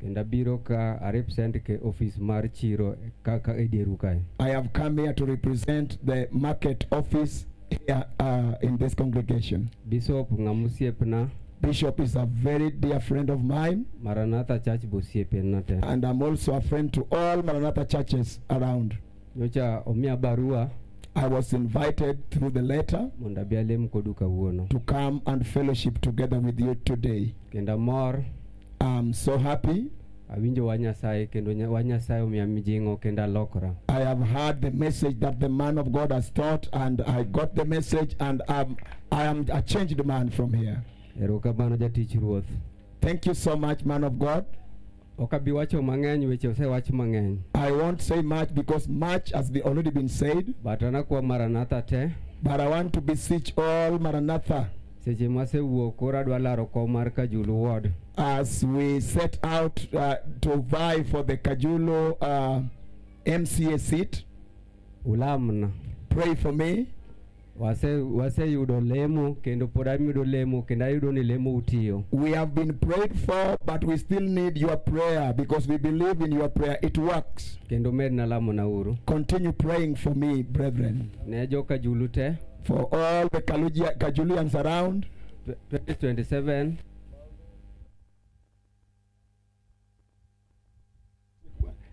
kendo abiro ka a represent ke office mar chiro ka ka e dieru kae I have come here to represent the market office here uh, in this congregation. bishop ng'ama osiepna Bishop is a very dear friend of mine, maranatha church be osiepena te and I'm also a friend to all Maranatha churches around. nyocha omiya barua I was invited through the letter mondo abi alem kodu kawuono to come and fellowship together with you today. kendo amor I'm so happy. Awinjo wa Nyasaye kendo nya- wa Nyasaye omiya mijing'o kendo alokora. I have heard the message that the man of God has taught, and I got the message, and um, I am a changed man from here. Erokamano jatich Ruoth. Thank you so much, man of God. Ok abi wacho mang'eny weche osewach mang'eny. I won't say much because much has be already been said, But anakwa Maranatha te but I want to beseech all Maranatha seche mwasewuok koro adwa laro kom mar Kajulu ward as we set out uh, to vie for the Kajulu uh, MCA seat ulamna pray for me wase waseyudo lemo kendo pod ayudo lemo kendo ayudo ni lemo utiyo we have been prayed for but we still need your prayer because we believe in your prayer it works kendo medna lamona uru continue praying for me brethren ne joka julu te For all the Kaluja, Kajulians around, 2027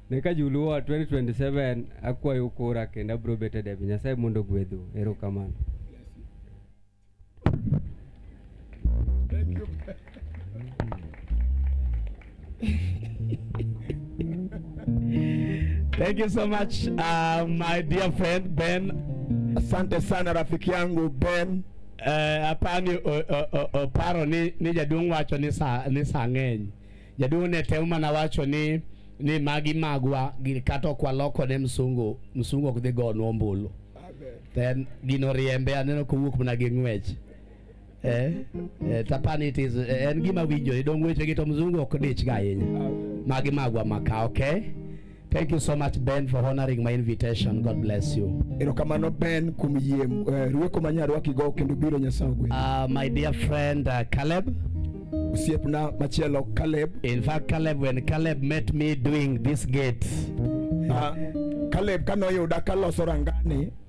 nikajuluo 2027 akwayo kura kendo abiro bedo e debe nyasaye mondo ogwedhu erokamano Thank you so much, uh, my dear friend Ben. Asante sana rafiki yangu Ben. Eh, apani oparo ni, ni jaduong' wacho ni sa, ni sa ng'eny. Jaduong' ne temo mana wacho ni ni magi magwa kata ok waloko ne msungu msungu ok dhi gonwa ombulu. Then gino riembe aneno kowuok mana gi ng'wech. eh, eh, tapani it is eh, en gima winjore dong weche gi to mzungu ok dich ga ahinya magi magwa maka okay Thank you so much Ben for honoring my invitation. God bless you. Erokamano Ben kuom yie eh, rueko ma nyarwaki go kendo biro Nyasaye ogwedhi. Uh, my dear friend uh, Caleb osiepna machielo Caleb. In fact Caleb when Caleb met me doing this gate. Uh, Caleb kanoyuda kaloso rangani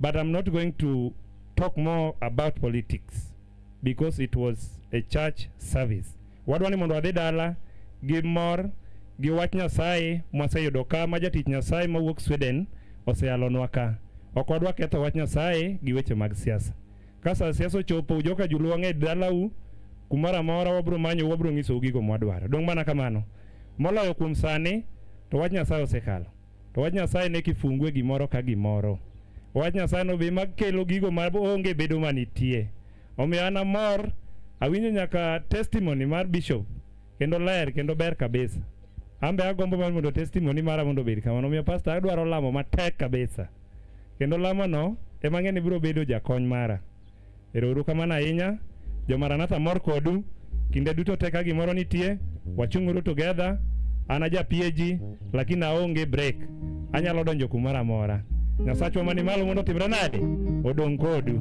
But I'm not going to talk more about politics because it was a church service. Wadwa ni mondo wadhi dala gi mor gi wach Nyasaye mwaseyudo ka ma jatich Nyasaye mawuok Sweden oseyalonwa ka. Ok wadwa ketho wach Nyasaye gi weche mag siasa. Ka sa siasa ochopo ujoka juluo ng'e dalau kumoro amora wabro manyo wabro ng'isou gigo mwadwaro. Dong' mana kamano. Moloyo kuom sani to wach Nyasaye osekalo. To wach Nyasaye ne kifungue gimoro ka gimoro. Wach Nyasaye no be makelo gigo ma onge bedo manitie. Omiyo an amor, awinjo nyaka testimony mar bishop kendo ler kendo ber kabisa. An be agombo mar mondo testimony mara mondo obed kamano. Omiyo pastor adwaro lamo matek kabisa. Kendo lamono ema ang'e ni biro bedo jakony mara. Ero uru kamano ahinya. Jo Maranatha mor kodu. Kinde duto te ka gimoro nitie, wachung'uru together. An aja PAG, lakini aonge break. Anyalo donjo kumoro amora. Nyasachwa mani malo mondo otimre nade? Odong' kodu.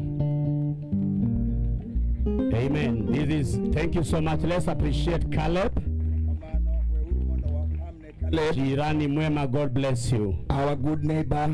Amen. This is, thank you so much. Let's appreciate Caleb. Caleb, Jirani mwema, God bless you. our good neighbor,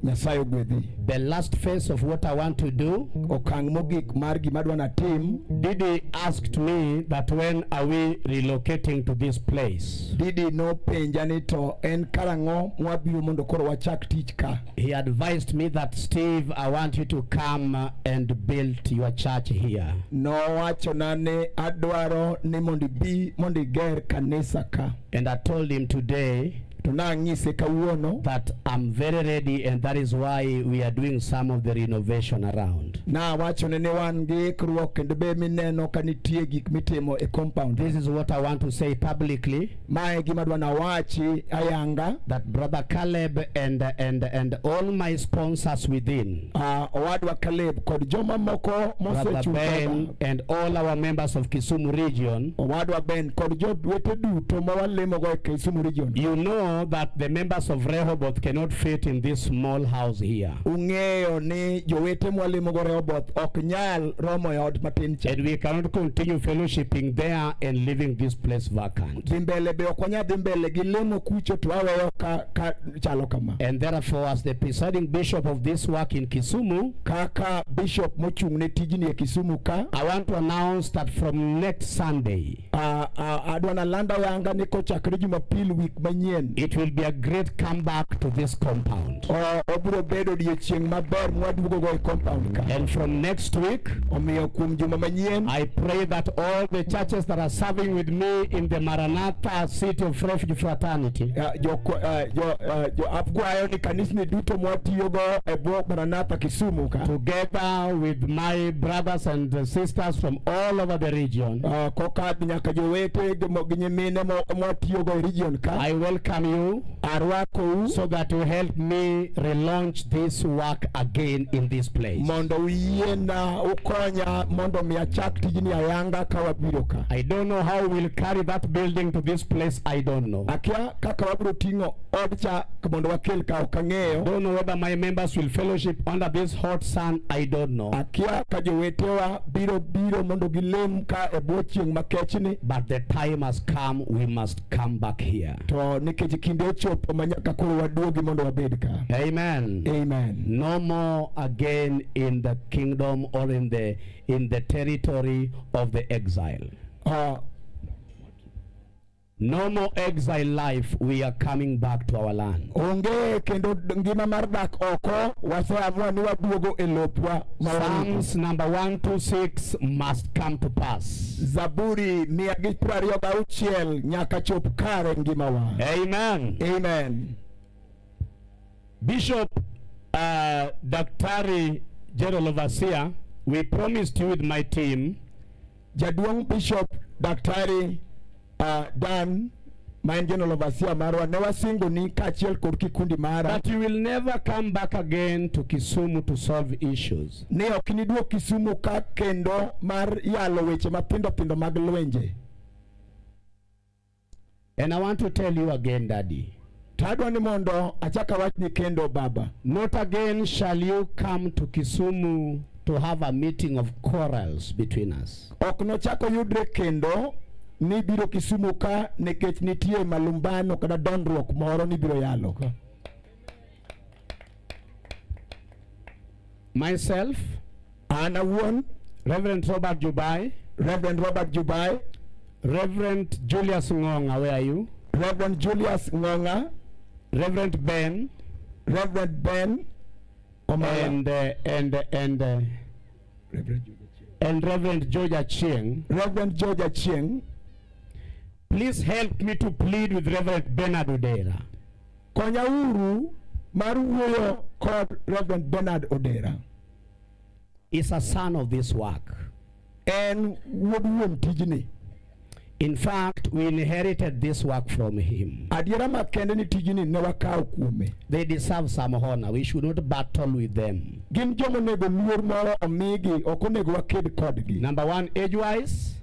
Nyasaye ogwedhi. The last phase of what I want to do, Okang' mogik mar gima adwa natim, Didi asked me that when are we relocating to this place? Didi nopenja ni to en karang'o mwabiro mondo koro wachak tich ka. He advised me that Steve, I want you to come uh, and build your church here. Nowachona ni adwaro ni mondo ibi mondo iger kanisa ka. And I told him today to nang'ise kawuono that I'm very ready and that is why we are doing some of the renovation around. Na wacho ne wan gi ikruok kendo be mineno ka nitie gik mitimo e compound. This is what I want to say publicly. Mae gima dwa nawachi ayanga that brother Caleb and and and all my sponsors within uh, owadwa Caleb kod joma moko mosechung' and all our members of Kisumu region owadwa Ben kod jowete duto ma walemogo e Kisumu region you know that the members of Rehoboth cannot fit in this small house here ung'eyo ni jowete mwalemogo Rehoboth ok nyal romo e ot matin cha and we cannot continue fellowshipping there and leaving this place vacant dhi mbele be ok wanyal dhi mbele gi lemo kucho to aweyo ka, ka chalo kama. And therefore as the presiding bishop of this work in Kisumu, kaka bishop mochung' ne tijni e Kisumu ka, I want to announce that from next Sunday, uh, uh, adwa nalanda yanga ni kochakre Jumapil week manyien, it will be a great comeback to this compound. Uh, obiro bedo odiechieng' maber mwaduogogo e compound ka. And from next week, Omiyo kuom juma manyien, I pray that all the churches that are serving with me in the Maranatha City of Refuge Fraternity, uh, jo, uh, jo, uh, jo akwayo ni kanisni duto mwatiyogo e bwo Maranatha Kisumu ka. together with my brothers and uh, sisters from all over the region, Uh, kokadhi nyaka jowete gi mo- gi nyimine mo- mwatiyogo e region ka. I welcome you arwakou so that you help me relaunch this work again in this place. Mondo uyiena ukonya mondo mi achak tijni ayanga ka wabiro ka. I don't know how we'll carry that building to this place. I don't know. Akia kaka wabiro ting'o odcha mondo wakel ka ok ang'eyo. Don't know whether my members will fellowship under this hot sun. I don't know. Akia ka jowetewa biro biro mondo gilem ka e bwo chieng' makechni. But the time has come we must come back here. To nikech kinde ochopo ma nyaka koro waduogi mondo wabed ka. Amen. Amen. No more again in the kingdom or in the in the territory of the exile. Uh, No more exile life. We are coming back to our land. Onge kendo ngima mar dak oko waseamua ni waduogo e lopwa. Psalms number 126 must come to pass. Zaburi mia gi piero ariyo gauchiel nyaka chop kare ngimawa. Amen. Amen. Bishop, uh, Daktari General Overseer, we promised you with my team Jaduong' Bishop Daktari uh, Dan ma en general overseer marwa ne wasingo ni kaachiel kod kikundi mara that you will never come back again to Kisumu to solve issues ni ok niduog Kisumu ka kendo mar yalo weche matindo tindo mag lwenje and I want to tell you again daddy Tadwa ni mondo achaka wachni kendo baba. Not again shall you come to Kisumu to have a meeting of quarrels between us. Ok nochako yudre kendo ni biro Kisumu ka nikech nitie malumbano kata dondruok moro ni biro yalo. Okay. Myself An awuon, Reverend Robert Jubai, Reverend Robert Jubai, Reverend Julius Ngonga, where are you? Reverend Julius Ngonga, Reverend Ben, Reverend Ben Omala, and uh, and uh, and uh, Reverend Julius. and Reverend George Achieng. Reverend George Achieng, Please help me to plead with Reverend Bernard Odera. konyauru mar wuoyo kod Reverend Bernard Odera. is a son of this work. En wuod wuon tijni. In fact, we inherited this work from him. Adiera makende ni tijni ne wakawo kuome. They deserve some honor. We should not battle with them. Gin joma onego luor moro omigi, ok onego waked kodgi. Number one, age wise.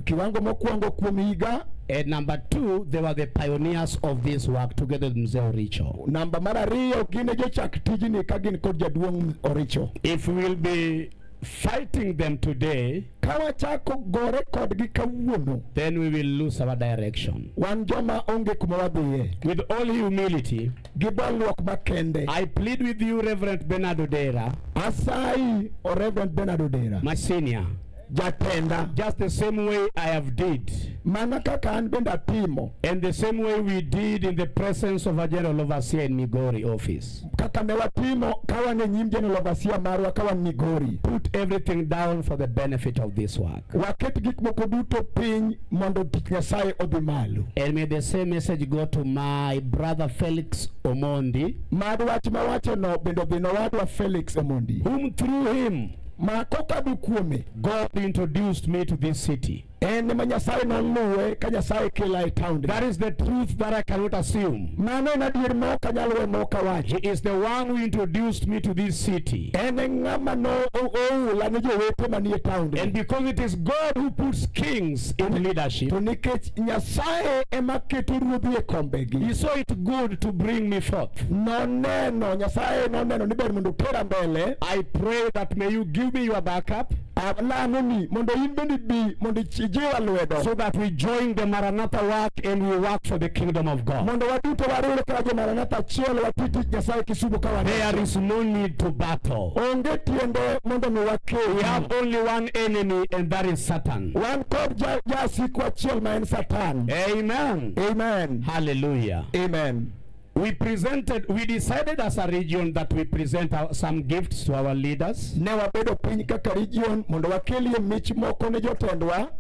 Kiwango mokwongo kuom higa And number two, they were the pioneers of this work together with Mzee Oricho. Namba mar ariyo gin jochak tijni ka gin kod jaduong' Oricho. If we will be fighting them today, ka wachako gore kodgi kawuono, then we will lose our direction. Wan joma onge kuma wadhiye. With all humility, gi bolruok makende. I plead with you Reverend Bernard Odera. Asayi o Reverend Bernard Odera. My senior. jatenda just the same way I have did mana kaka an bende atimo and the same way we did in the presence of a general overseer in Migori office kaka ne watimo kawan e nyim general overseer marwa kawan Migori put everything down for the benefit of this work waket gik moko duto piny mondo tich Nyasaye odhi malo and may the same message go to my brother Felix Omondi mad wach mawachono bende odhi nowadwa Felix Omondi whom through him ma kokadho kuome God introduced me to this city. en ema Nyasaye noluwe ka Nyasaye kela e taond. That is the truth that I cannot assume. Mano en adier ma ok anyal we ma ok awachi. He is the one who introduced me to this city. En e ng'ama no o- oula ne jowete manie taond. And because it is God who puts kings in leadership, To nikech Nyasaye ema keto ruodhi e kombegi. he saw it good to bring me forth. Noneno Nyasaye noneno ni ber mondo utera mbele. I pray that may you give me your backup. Alamo ni mondo in bende bi mondo ijiwa lwedo. So that we join the Maranatha work and we work for the kingdom of God. Mondo waduto wariwre ka jo Maranatha achiel wati tich Nyasaye Kisumo ka wan. There is no need to battle. Onge tiende mondo mi wakew. We have only one enemy and that is Satan. Wan kod jasik wachiel ma en Satan. Amen. Amen. Hallelujah. Amen. We presented, we decided as a region that we present our, some gifts to our leaders. Ne wabedo piny kaka region mondo wakelie mich moko ne jotendwa.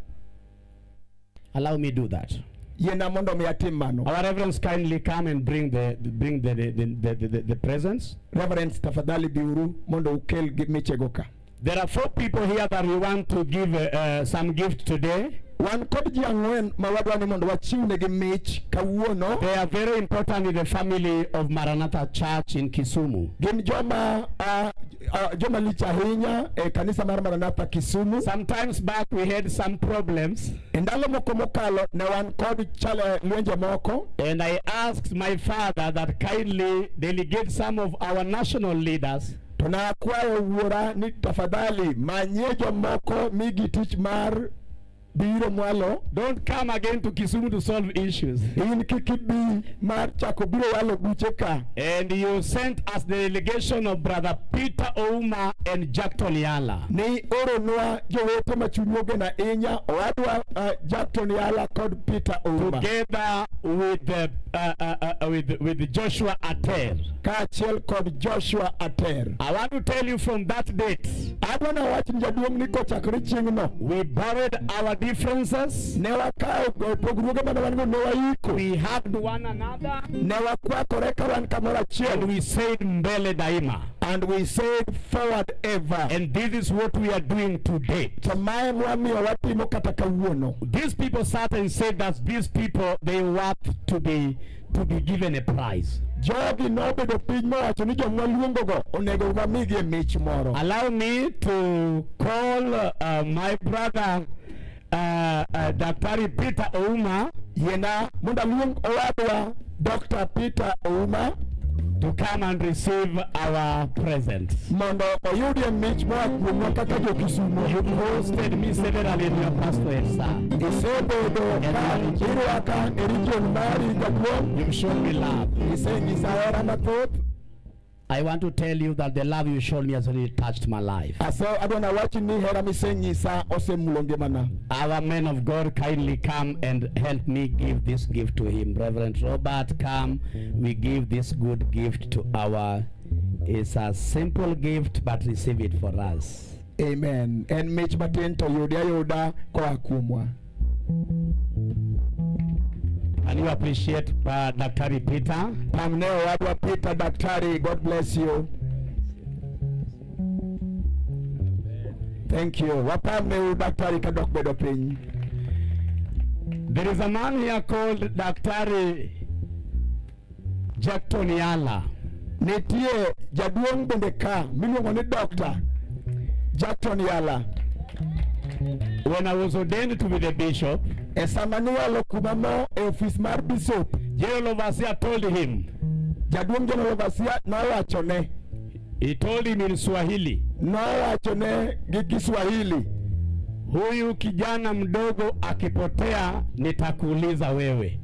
Allow me do that. Yena mondo mi atim mano. Our reverends kindly come and bring the bring the the the, the, the, the presents. Reverends tafadhali biuru mondo ukel michego ka. There are four people here that we want to give uh, some gift today. Wan kod ji ang'wen ma wadwa ni mondo wachiwnegi mich kawuono. They are very important in the family of Maranatha Church in Kisumu. Gin joma uh, uh, joma lich ahinya e kanisa mar Maranatha Kisumu. Sometimes back we had some problems. E ndalo moko mokalo ne wan kod chale eh, lwenje moko. And I asked my father that kindly delegate some of our national leaders To nakwayo wuora ni tafadhali manyie jomoko migi tich mar biro mwalo. Don't come again to Kisumu to solve issues. In kik ibi mar chako biro walo buche ka. And you sent us the delegation of brother Peter Ouma and Jack Toliala. Ni oro nwa jowete ma chunywa ogena inya owadwa uh, Jack Toliala kod Peter Ouma. Together with the, uh, uh, uh, with with Joshua Ater. kaachiel kod Joshua Ater. I want to tell you from that date. Adwa na wach ni jaduong' ni kochakore chieng'no. We buried our differences. Ne wakawo pogruoge mane wan go ne waiko. We hugged one another. Ne wakwakore ka wan kamoro achiel. And we said mbele daima. And we said forward ever. And this is what we are doing today. To mae mwamiyo watimo kata kawuono. These people sat and said that these people they want to be to be given a prize. Jogi nobedo piny mowacho ni joma luongogo onego wamigie mich moro. Allow me to call uh, my brother uh, uh, Daktari Peter Ouma. Yena mondo aluong owadwa Dr. Peter Ouma to come and receive our present. mondo oyudie mich moa kuomwa kaka jo-Kisumo. You hosted me severally in your pastorate, sir. Isebedo ka irwaka e region mari jaduong'. You've shown me love. Isenyisa hera mathoth. I want to tell you that the love you showed me has really touched my life. Ase adwa nawachi ni hera misenyisa osemulo ngimana. Our men of God kindly come and help me give this gift to him. Reverend Robert, come. We give this good gift to our It's a simple gift but receive it for us. Amen. En mich matin to yudi ayuda koa kuomwa. And you appreciate uh, Daktari Peter. Pamneo wadwa Peter Daktari, God bless you. Thank you. Wapamne Daktari kadok bedo piny. There is a man here called Daktari Jackton Yala. Nitie jaduong' bende ka miluongo ni Dr. Jackton Yala. When I was ordained to be the bishop, e sama niwalo kuma mo e ofis mar bishop, General Overseer told him, jaduong' General Overseer nowachone, he told him in Swahili, nowachone gi Kiswahili, huyu kijana mdogo akipotea nitakuuliza wewe.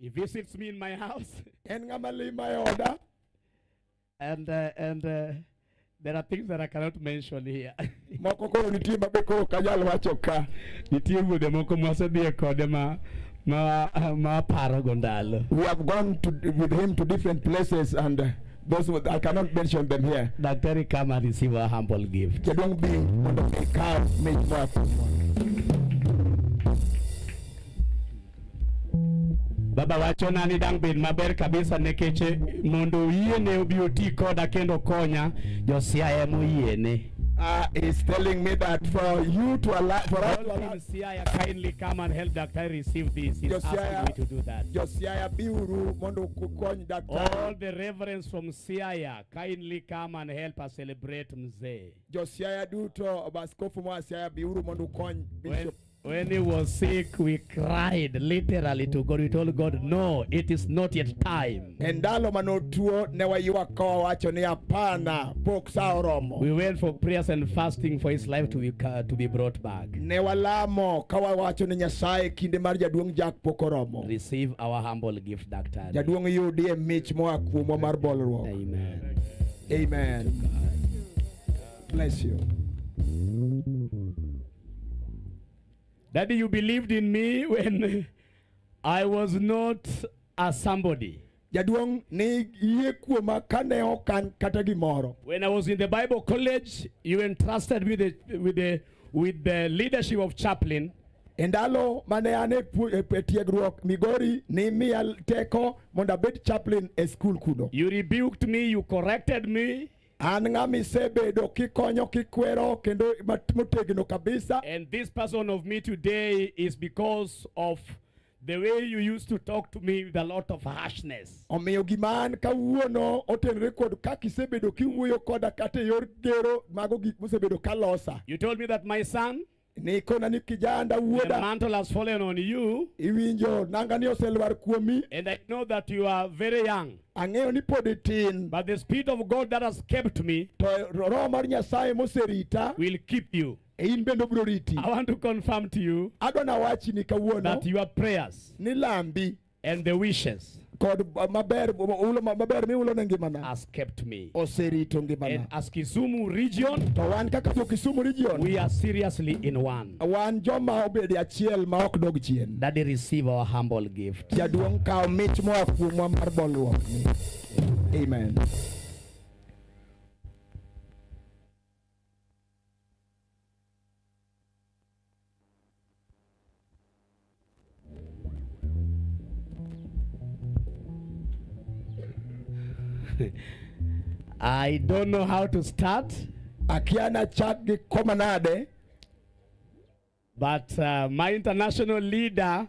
He visits me in my house. En ng'ama lima e oda. And, uh, and uh, there are things that I cannot mention here. moko koro nitie ma be koro ok anyal wacho ka. Nitie wuodhe moko mwasedhiye kode ma ma ma paro go ndalo. We have gone to, with him to different places and uh, those who- I cannot mention them here. Daktari come and receive a humble gift. Jaduong' bi mondo ikaw mich moa kuomwa. Baba wacho na ni dang' bed maber kabisa nekech eh, mondo oyiene obi oti koda kendo konya josiaya ema oyiene. Uh, he's telling me that for you to allow for us to All allow team Siaya kindly come and help Dr. receive this. He's asking Josiah, me to do that. Josiah biuru mondo kukony All daktari. the reverends from Siaya kindly come and help us celebrate mzee. Josiah duto baskofu mwa Siaya biuru mondo ukony Well, bishop. When he was sick, we cried literally to God. We told God, no, it is not yet time. E ndalo mane otuo ne waywak ka wawacho ni hapana, pok sa oromo. We went for prayers and fasting for his life to be, ca- to be brought back. Ne walamo ka wawacho ni Nyasaye kinde mar jaduong' Jack pok oromo. Receive our humble gift, Doctor. Jaduong' yudi e mich moa kuomwa mar bolruok. Amen. Amen. Bless you. Daddy, you believed in me when I was not a somebody. Jaduong ni yie kuoma kane ok an kata gimoro. When I was in the Bible college, you entrusted me the, with the with the leadership of chaplain. E ndalo mane an e tiegruok Migori ni miya teko mondo abed chaplain e skul kuno. You rebuked me, you corrected me. An ng'ama isebedo kikonyo kikwero kendo mat- motegno kabisa. And this person of me today is because of the way you used to talk to me with a lot of harshness. Omiyo gima an kawuono otenore kod kaka isebedo kiwuoyo koda kata e yor gero mago gik mosebedo kalosa. You told me that my son, Nikona ni kijanda wuoda. The mantle has fallen on you. Iwinjo nanga ni oselwar kuomi. And I know that you are very young. Ang'eyo ni pod itin. But the spirit of God that has kept me. To roho mar Nyasaye moserita. Will keep you. E in bende obiro riti. I want to confirm to you. Adwa nawachi ni kawuono. That your prayers. Ni lambi. and the wishes kod uh, maber ulo maber miulo ne ngimana has kept me oserito ngimana and as Kisumu region to wan kaka jo Kisumu region we are seriously in one wan joma obedi achiel ma ok dog chien that they receive our humble gift jaduong' kawo mich moa kuomwa mar bolruok amen I don't know how to start, akiana chak gi koma nade but uh, my international leader,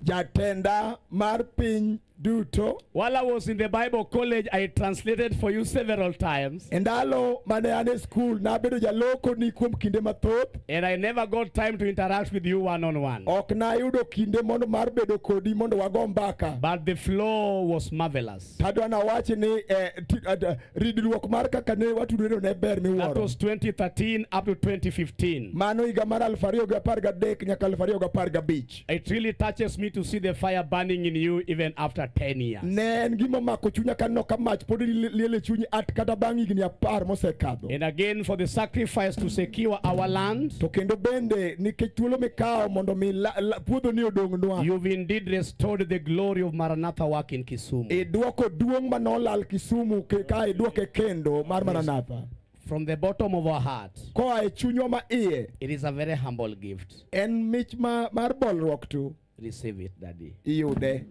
Jatenda mar piny duto. While I was in the Bible college, I translated for you several times. E ndalo mane an e skul nabedo jaloko ni kuom kinde mathoth. And I never got time to interact with you one on one. Ok nayudo kinde mondo mar bedo kodi mondo wago mbaka. But the flow was marvelous. Tadwa na wachi ni eh, eh ridruok mar kaka ne watudore ne ber miwuoro. That was 2013 up to 2015. Mano higa mar 2013 nyaka 2015. mach. It really touches me to see the fire burning in you even after 10 years. Ne en gima mako chunya ka neno ka mach pod li- liel e chunyi at kata bang' higni apar mosekadho. And again, for the sacrifice to secure our land, To kendo bende nikech thuolo mikawo mondo mi la- la- puodhoni odongnwa. you've indeed restored the glory of Maranatha work in Kisumu. Idwoko duong' ma nolal Kisumu ke- ka idwoke kendo mar Maranatha. From the bottom of our heart. Koa e chunywa ma iye. It is a very humble gift. En mich ma mar bolruok tu. Receive it, Daddy. Iyude.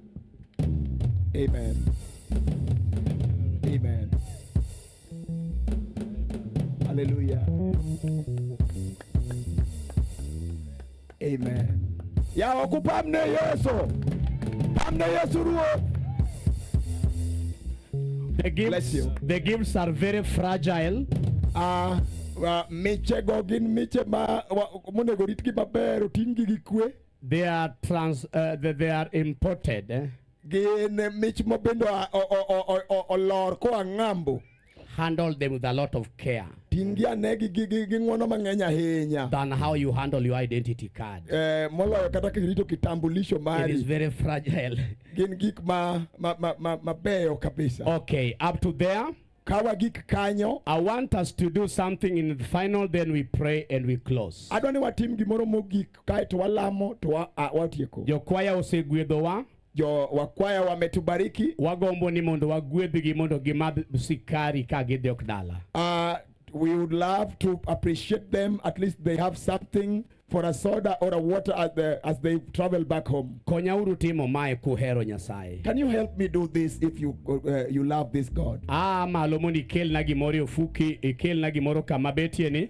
Amen. Amen. Hallelujah. Amen. Yawa kupamne Yesu. Pamne Yesu Ruoth. The Bless gifts, you. the gifts are very fragile. Ah, ah, michego gin miche ma wa- monego ritgi maber oting'gi gi kwe They are trans. Uh, they, they are imported. eh. gin mich ma bende oa- o- o- o- o- o- olor koa ng'ambo handle them with a lot of care Tingi ane gi gi gi gi ng'wono mang'eny ahinya than how you handle your identity card. eh, moloyo kata kirito kitambulisho It is mari very fragile. gin gik ma ma ma ma- mabeyo kabisa Okay, up to there. kawa gik kanyo I want us to do something in the final, then we pray and we close. adwa ni watim gimoro mogik kaeto walamo to wa- a- watieko Jokwaya osegwedhowa. Jo wakwaya wametubariki. Wagombo ni mondo wagwedhgi mondo gimadh sikari ka gidhi ok dala. Uh, we would love to appreciate them at least they have something for a soda or a water as, the, as they travel back home. Konyauru timo mae kuhero Nyasaye. Can you help me do this if you uh, you love this God? Ah, malo mondo ikelna gimoro e ofuki, ikelna gimoro kama betie ni.